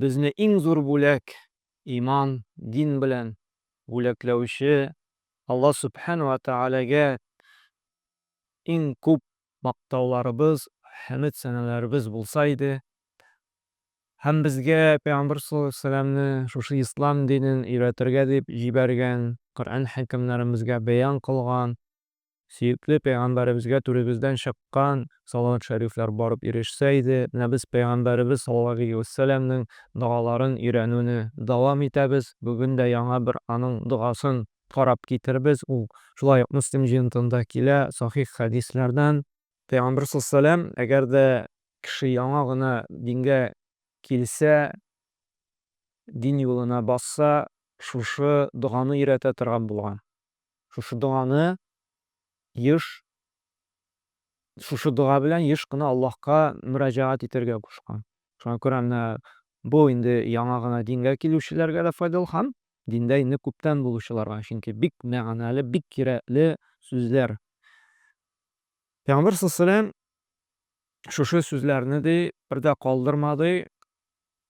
Безне иң зур бүләк, иман, дин белән бүләкләүче Алла Сүбхән вә Тәгаләгә иң күп мактауларыбыз, хәмед-сәналарыбыз булса иде, һәм безгә Пәйгамбәр саллаллаһу галәйһи вә сәлләмне шушы Ислам динен өйрәтергә дип җибәргән, Коръән хәкимнәребезгә бәян кылган, Сөекле пәйгамбәребезгә түребездән чыккан салават шәрифләр барып ирешсә иде, менә без пәйгамбәребез саллаллаһу галәйһи вә сәлләмнең догаларын өйрәнүне дәвам итәбез, бүген дә яңа бер аның догасын карап китербез, ул шулай ук Мөслим җыентында килә, сахих хәдисләрдән. Пәйгамбәр саллаллаһу галәйһи вә сәлләм, Әгәр дә кеше яңа гына дингә килсә, дин юлына басса, шушы доганы өйрәтә торган булган. Шушы доганы еш, шушы дога белән еш кына Аллаһка мөрәҗәгать итәргә кушкан. Шуңа күрә менә бу инде яңа гына дингә килүчеләргә дә файдалы һәм диндә инде күптән булучыларга, чөнки бик мәгънәле, бик кирәкле сүзләр. Пәйгамбәр саллаллаһу галәйһи ва сәлләм шушы сүзләрне ди, бер дә калдырмады,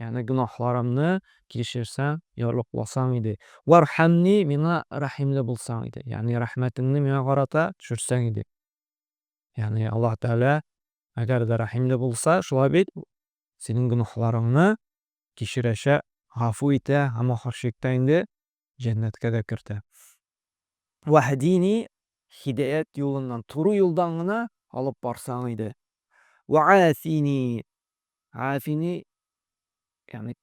Ягъни гөнаһларымны кичерсәң, ярлыкласаң иде. Вархәмни, миңа рәхимле булсаң иде. Ягъни рәхмәтеңне миңа карата төшерсәң иде. Ягъни Аллаһ Тәгалә әгәр дә рәхимле булса, шулай бит, синең гөнаһларыңны кичерәчәк, гафу итә һәм ахырчыкта инде җәннәткә дә кертә. Ваһдини, һидаять юлыннан, туры юлдан гына алып барсаң иде. Вә афини, афини, ягъни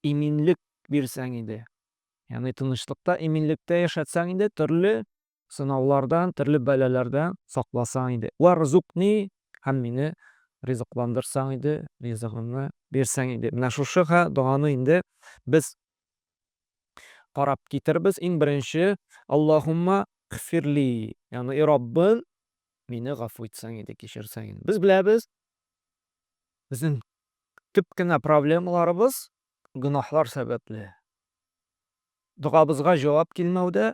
иминлек бирсәң иде. Ягъни тынычлыкта, иминлектә яшәтсәң иде, төрле Сынаулардан, төрле бәлаләрдән сакласаң иде. Вәрзукни, һәм мине ризыкландырсаң иде, ризыгыңны бирсәң иде. Менә шушы ха доганы инде без карап китербез. Иң беренче, Аллаһумма гфирли, ягъни, и Раббым, мине гафу итсәң иде, кичерсәң иде. Без беләбез, безнең төп кенә проблемаларыбыз гөнаһлар сәбәпле. Догабызга җавап килмәүдә,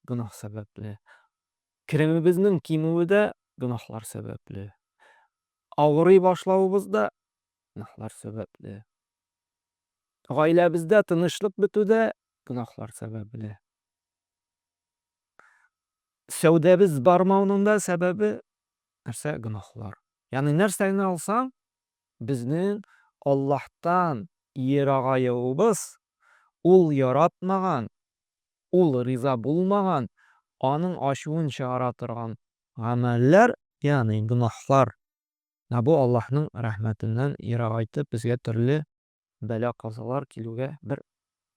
гөнаһ сәбәпле. Керемебезнең кимүе дә гөнаһлар сәбәпле. Авырый башлавыбыз да гөнаһлар сәбәпле. Гаиләбездә тынычлык бетү дә гөнаһлар сәбәпле. Сәүдәбез бармауның да сәбәбе нәрсә? Гөнаһлар. Ягъни нәрсә генә алсаң, безнең Аллаһтан ерагаюыбыз, ул яратмаган ул риза булмаган, аның ачуын чыгара торган гамәлләр, ягъни гөнаһлар, да бу Аллаһның рәхмәтеннән ерагайтып, безгә төрле бәла-казалар килүгә бер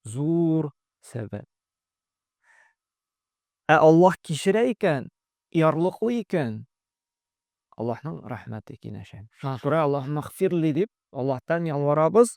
зур сәбәп. Ә Аллаһ кичерә икән, ярлыклый икән, Аллаһның рәхмәте киңәшә. Шуңа күрә, Аллаһуммәгъфирли дип, Аллаһтан ялварабыз.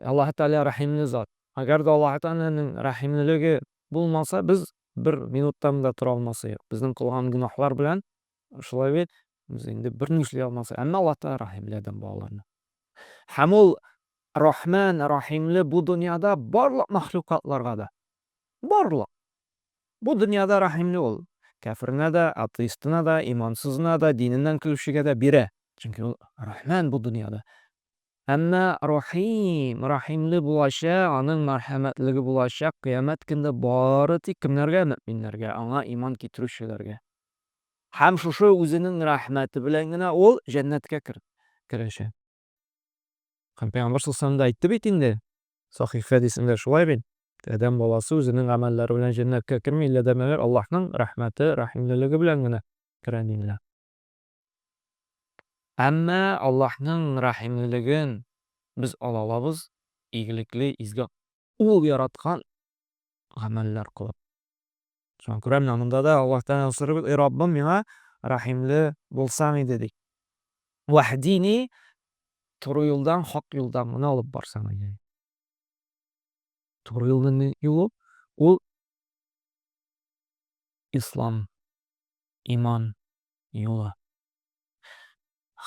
Ә Аллаһы Тәгалә рәхимле зат. Әгәр дә Аллаһы Тәгаләнең рәхимлелеге булмаса, без бер минуттан да тора алмас идек. Безнең кылган гөнаһлар белән шулай бит, без инде берни эшли алмас идек. Әмма Аллаһы Тәгалә рәхимле адәм балаларына. Һәм ул Рахман, рәхимле бу дөньяда барлык мәхлукатларга да. Барлык! Бу дөньяда рәхимле ул. Кяференә дә, атеистына да, имансызына да, диненнән көлүчегә дә бирә. Чөнки ул Рахман бу дөньяда. Әмма Рахим, рәхимле булачак, Аның мәрхәмәтлеге булачак Кыямәт көнне бары тик кемнәргә, мөэминнәргә, Аңа иман китерүчеләргә. Һәм шушы Үзенең рәхмәте белән генә ул җәннәткә керәчәк. Һәм Пәйгамбәр саллаллаһу галәйһи ва сәлләм дә әйтте бит инде. Сахих хәдисендә шулай бит, Адәм баласы үзенең гамәлләре белән җәннәткә керми, иллә дә мәгәр Аллаһның рәхмәте, рәхимлелеге белән генә керә, диделәр. Әмма Аллаһның рәхимлелеген без ала алабыз, игелекле, изге. Ул яраткан гамәлләр кылып. Шуңа күрә менә монда да Аллаһ Тәгаләдән сорыйбыз, Эй Раббым, миңа рәхимле булсаң иде, ди. Вәһдини, туры юлдан, хак юлдан гына алып барсаң иде. Туры юлның юлы, ул Ислам, иман, юлы.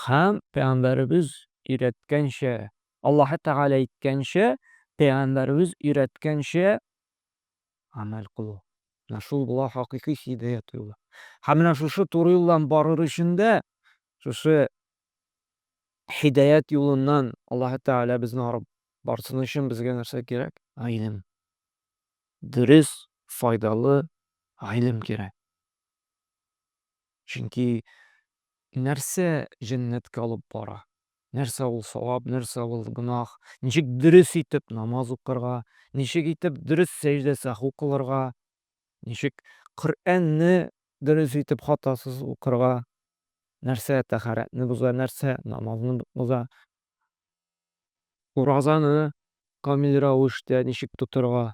Һәм пәйгамбәребез өйрәткәнчә, Аллаһы Тәгалә әйткәнчә, пәйгамбәребез өйрәткәнчә гамәл кылу. Менә шул була хакыйкый һидаят юлы. Һәм менә шушы туры юлдан барыр өчен дә шушы һидаят юлыннан Аллаһы Тәгалә безне арып барсын өчен безгә нәрсә кирәк? Гыйлем. Дөрес, файдалы гыйлем кирәк. Чөнки нәрсә җәннәткә алып бара? Нәрсә ул савап, нәрсә ул гөнаһ? Ничек дөрес итеп намаз укырга, ничек итеп дөрес сәҗдә сәһү кылырга, ничек Коръәнне дөрес итеп хатасыз укырга, нәрсә тәһарәтне боза, нәрсә намазны боза, уразаны камил рәвештә ничек тотырга?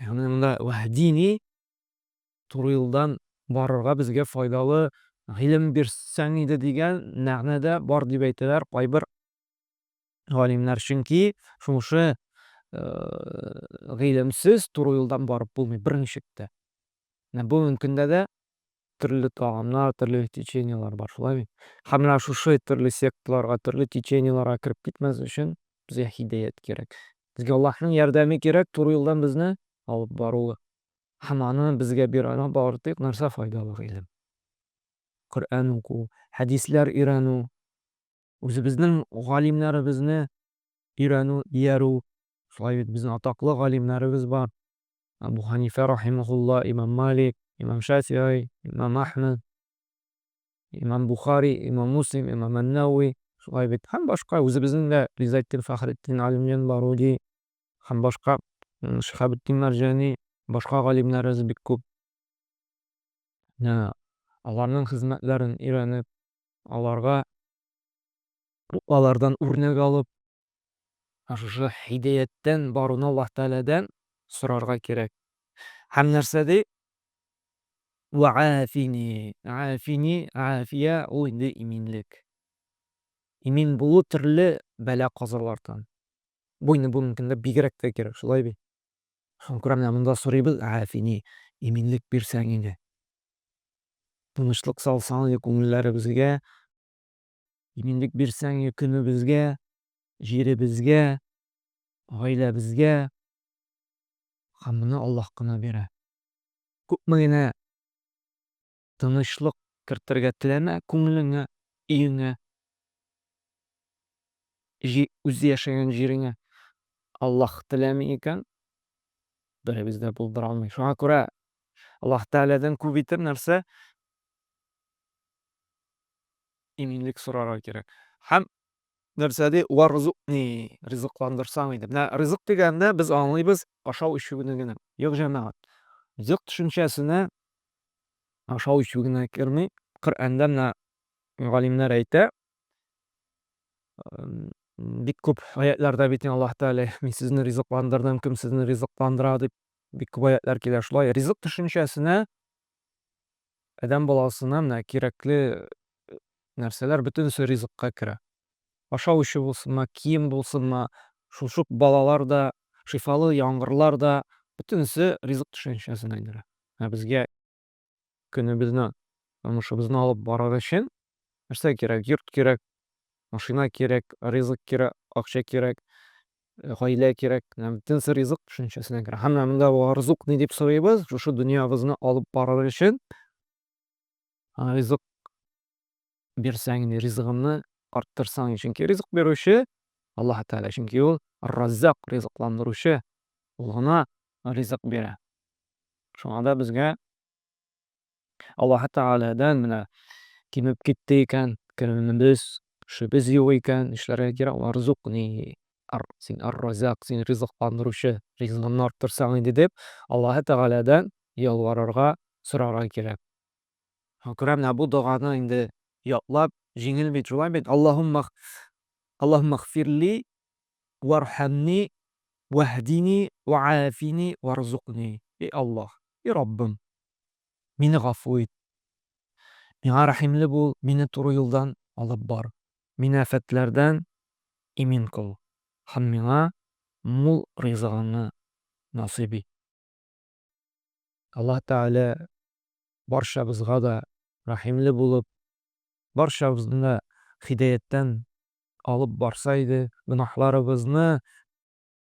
Ягъни монда вәһдини туры юлдан барырга безгә файдалы гыйлем бирсәң иде дигән мәгънә дә бар дип әйтәләр кайбер галимнәр. Чөнки шушы гыйлемсез туры юлдан барып булмый берничек тә. Менә бүген көндә дә төрле тагамнар, төрле течениелар бар, шулай бит? Һәм менә шушы төрле секталарга, төрле течениеларга кереп китмәс өчен безгә һидәят кирәк. Безгә Аллаһның ярдәме кирәк, туры юлдан безне алып баруы. Һәм аны безгә биргән бары тик нәрсә файдалы гыйлем. Коръән уку, хәдисләр өйрәнү, үзебезнең галимнәребезне өйрәнү, иярү. Шулай бит, безнең атаклы галимнәребез бар. Абу Ханифә рахимәһулла, имам Малик, имам Шәфигый, имам Әхмәд, имам Бухари, имам Муслим, имам Ән-Нәвви, шулай бит, һәм башка, үзебезнең дә Гыйззәтдин Фәхретдин, Галимҗан Баруди һәм башка, Шиһабетдин Мәрҗани, башка галимнәребез бик күп. Менә аларның хезмәтләрен өйрәнеп, аларга, алардан үрнәк алып, Ә шушы һидәяттән баруны Аллаһ Тәгаләдән сорарга кирәк. Һәм нәрсә ди? Вәафини, афини, афия, ул инде иминлек. Имин булу төрле бәла-казалардан. Бу инде бүгенге көндә бигрәк тә кирәк, шулай бит? Шуны күрә менә монда сорыйбыз, афини, иминлек бирсәң иде. Тынычлык салсаң иде күңелләребезгә, Иминлек бирсәң көнебезгә, җиребезгә, гаиләбезгә. Һәм моны Аллаһ кына бирә. Күпме генә тынычлык кертергә теләмә күңелеңә, өеңә, үзе яшәгән җиреңә, Аллаһ теләми икән, беребез дә булдыра алмый. Шуңа күрә Аллаһ Тәгаләдән күп итеп нәрсә? иминлек сорарга кирәк. Һәм нәрсә ди, вә рзукни, ризыкландырсаң иде. Менә ризык дигәндә без аңлыйбыз ашау-эчүне генә. Юк, җәмәгать. Ризык төшенчәсенә ашау-эчү генә керми. Коръәндә менә галимнәр әйтә, бик күп аятларда бит Аллаһ Тәгалә мин сезне ризыкландырдым, кем сезне ризыкландыра дип бик күп аятлар килә. Шулай ризык төшенчәсенә Адәм баласына менә кирәкле нәрсәләр бөтенесе ризыкка керә. Ашау эчү булсынмы, кием булсынмы, шул шук балалар да, шифалы яңгырлар да, бөтенесе ризык төшенчәсенә керә. Ә безгә көнебезне, тормышыбызны алып барыр өчен нәрсә кирәк? Йорт кирәк, машина кирәк, ризык кирәк, акча кирәк. Гаилә кирәк, менә бөтен сер ризык төшенчәсенә керә. Һәм менә монда ризык ни дип сорыйбыз? Шушы дөньябызны алып барыр өчен ризык бирсәң, ризыгымны арттырсаң, чөнки ризык бирүче Аллаһ Тәгалә, чөнки ул Раззак, ризыкландыручы, ул гына ризык бирә. Шуңа да безгә Аллаһы Тәгаләдән менә кимеп китте икән, керемебез, эшебез юк икән, нишләргә кирәк, варзук ни, син ар-разак, син ризыкландыручы, ризыгымны арттырсаң иде дип, Аллаһы Тәгаләдән ялварырга, сорарга кирәк. Күрә менә бу доганы инде ятлап, җиңел бит, шулай бит, Аллаһумма Аллаһумма гфирли вархамни ваһдини ваафини варзукни. И Аллаһ, и Раббым, Мине гафу ит. Миңа рәхимле бул, мине туры юлдан алып бар. Мине афәтләрдән имин кыл һәм миңа мул ризыгыңны насыйп ит. Аллаһ Тәгалә барчабызга да рәхимле булып, барчабызны да хидәяттән алып барса иде, гөнаһларыбызны